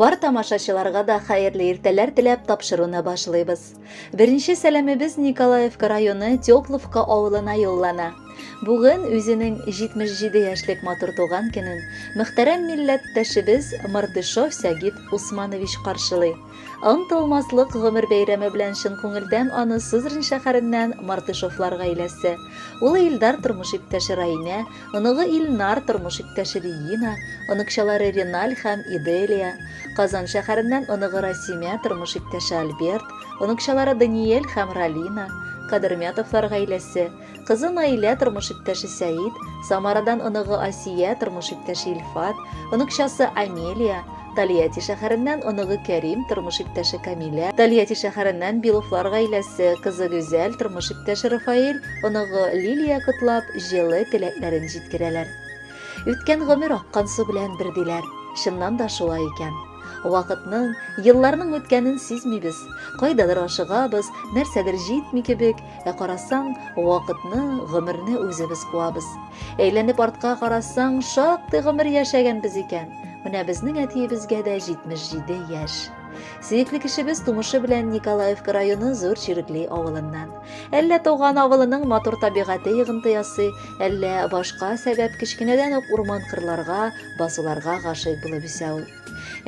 Бар тамашачыларга да хәерле иртәләр теләп тапшыруны башлыйбыз. Беренче сәламебез Николаевка районы Тепловка авылына юллана. Бүген үзенең 77 яшьлек матур туган көнен мөхтәрәм милләттәшебез Мартышов Сәгит Усманович каршылый. Онтылмаслык гомер бәйрәме белән чын күңелдән аны Сызрань шәһәреннән Мартышевлар гаиләсе, улы Илдар тормыш иптәше Раимә, оныгы Илнар тормыш иптәше Регина, оныкчалары Реналь һәм Иделия, Казан шәһәреннән оныгы Расимә тормыш иптәше Альберт, оныкчалары Даниэль һәм Ралина, Кадермятовлар гаиләсе, Кызы Наилә, тормыш иптәше Сәид, Самарадан оныгы Асия, тормыш иптәше Илфат, оныкчасы Амелия, Тольятти шәһәреннән оныгы Кәрим, тормыш иптәше Камилә, Тольятти шәһәреннән Беловлар гаиләсе, кызы Гүзәл, тормыш иптәше Рафаэль, оныгы Лилия котлап, җылы теләкләрен җиткерәләр. Үткән гомер аккан су белән бер диләр. Чыннан да шулай икән. Вакытның, елларның үткәнен сизмибез. Кайдадыр ашыгабыз, нәрсәдер җитми кебек, Ә карасаң, вакытны, гомерне үзебез куабыз. Әйләнеп артка карасаң, шактый гомер яшәгәнбез икән. Менә безнең әтиебезгә дә 77 яшь. Сөекле кешебез тумышы белән Николаевка районы Зур Чирекли авылыннан. Әллә туган авылының матур табигате йогынты ясый, әллә башка сәбәп кечкенәдән үк урман кырларга, басуларга гашыйк булып үсә ул.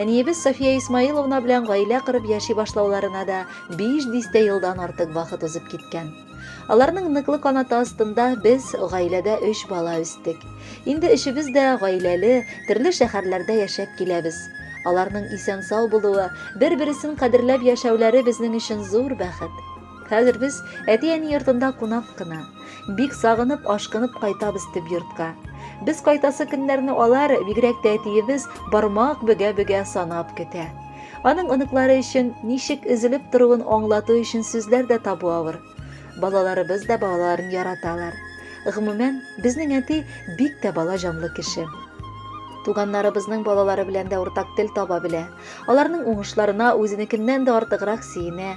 Әниебез София Исмаиловна белән гаилә корып яши башлауларына да биш дистә елдан артык вакыт узып киткән. Аларның ныклы канаты астында без гаиләдә өч бала үстек. Инде өчебез дә гаиләле, төрле шәһәрләрдә яшәп киләбез. Аларның исән-сау булуы, бер-бересен кадерләп яшәүләре безнең өчен зур бәхет. Хәзер без әти-әни йортында кунак кына. Бик сагынып, ашкынып кайтабыз төп йортка. Без кайтасы көннәрне алар, бигрәк тә әтиебез, бармак бөгә-бөгә санап көтә. Аның оныклары өчен ничек өзелеп торуын аңлату өчен сүзләр дә табу авыр. Балаларыбыз да балаларын яраталар. Гомумән, безнең әти бик тә бала җанлы кеше. Туганнарыбызның балалары белән дә уртак тел таба белә. Аларның уңышларына үзенекеннән дә артыграк сөенә.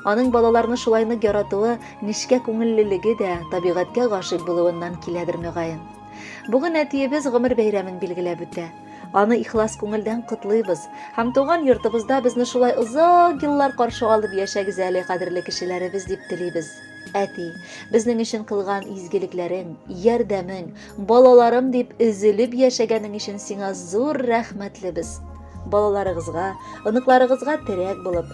Аның балаларны шулай нык яратуы, нечкә күңеллелеге дә табигатькә гашыйк булуыннан киләдер мөгаен. Бүген әтиебез гомер бәйрәмен билгеләп үтә. Аны ихлас күңелдән котлыйбыз һәм туган йортыбызда безне шулай озак еллар каршы алып яшәгез әле, кадерле кешеләребез, дип телибез. Әти, безнең өчен кылган изгелекләрең, ярдәмең, балаларым дип өзелеп яшәгәнең өчен сиңа зур рәхмәтлебез. Балаларыгызга, оныкларыгызга терәк булып,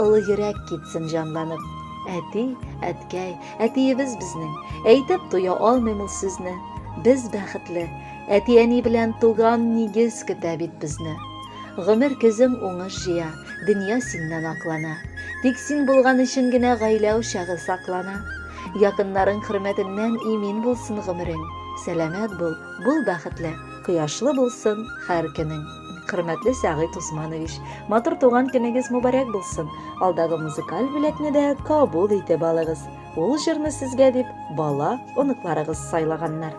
Олы йөрәк китсен җанланып. Әти, әткәй, әтиебез безнең. Әйтеп туя алмыйм ул сүзне. Без бәхетле. Әти-әни белән туган нигез көтә бит безне. Гомер көзең уңыш җыя, дөнья синнән аклана. Тик син булган өчен генә гаилә учагы саклана. Якыннарың хөрмәтеннән имин булсын гомерең. Сәламәт бул, бул бәхетле, кояшлы булсын һәр көнең. Хөрмәтле Сәгыйть Усманович, матур туган көнегез мубарәк булсын. Алдагы музыкаль бүләкне дә кабул итеп алыгыз. Ул җырны сезгә дип бала, оныкларыгыз сайлаганнар.